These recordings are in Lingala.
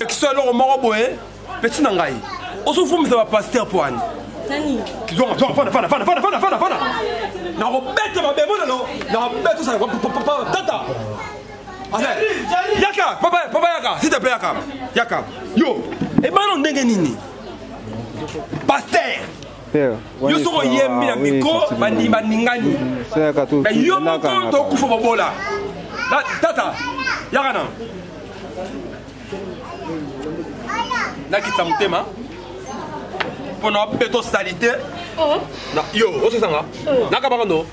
kiso eloko moko boye peti na ngai ozofumisa bapaster mpo ani nakobeta mabemo lelo nakobeta osala tata yaka papa papa yaka s'il te plaît yaka yaka yo ebana ndenge nini pasteur yo soki oyembi na miko baningani me yo moko tokufa bobola tata yaka na nakitisa motema mpo na beto salite oh. yo ososanga oh. nakabaka no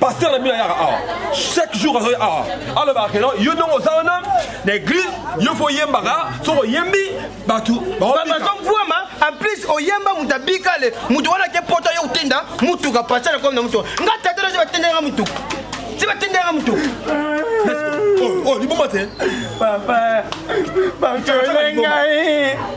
pasteur na bino ayaka awa chaque jour azoya awa alobaka keno yo ndongo oza wana na église yo fo oyembaka soki oyembi bato baovuama en plus oyemba moto abikale moto wana ke poto yo otenda motuka pasteur akomi na motuka nga tata nazo batendaka motuka ti batendaka motuka oh, oh, liboma te papa batole ngai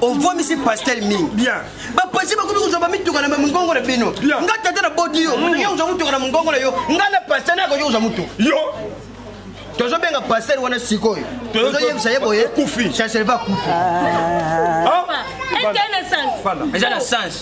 ovomisi pastel mingi bapasi bakomi kozwa bamituka na mongongo na bino nga tata na bodi yo mm. olingi kozwa motuka na mongongo na yo nga na pastel nakoki kozwa motuka tozobenga pasel wana sikoyo tozoyebisa ye boye chancel va kufi ah. Ah. eza na sens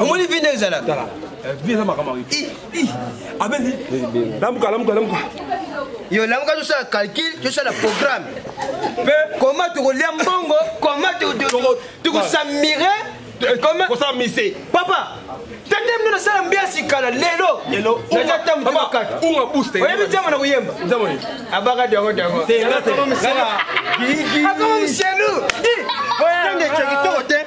omoni vi nde ezalaka lamuka lamuka lamuka yo lamuka tosala calcul tosala programme mpe koma tokolia mbongo koma tokosamire kosala mise papa tande mino nasala mbiasi kala lelo lelo naza tambu kaka unga booster oyebi jambo na koyemba jambo ni abaka diongo diongo tenga te akoma mselu tenge chekitoko te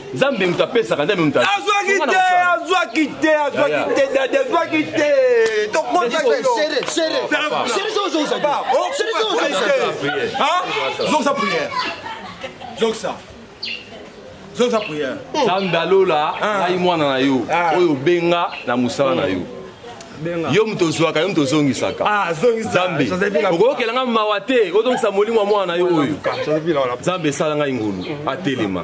nzambe moto apesaka nzambe moto azwaki te azwaki te azwaki te dadi azwaki te tokozokisa priere zokisa zokisa priere nzambe alola ngai mwana na yo oyo obenga na mosala na yo yo moto ozwaka yo moto ozongisaka ah, nzambe okoyokela ngai mawa te ozongisa molimo ya mwana na yo oyo nzambe esala ngai ngulu atelema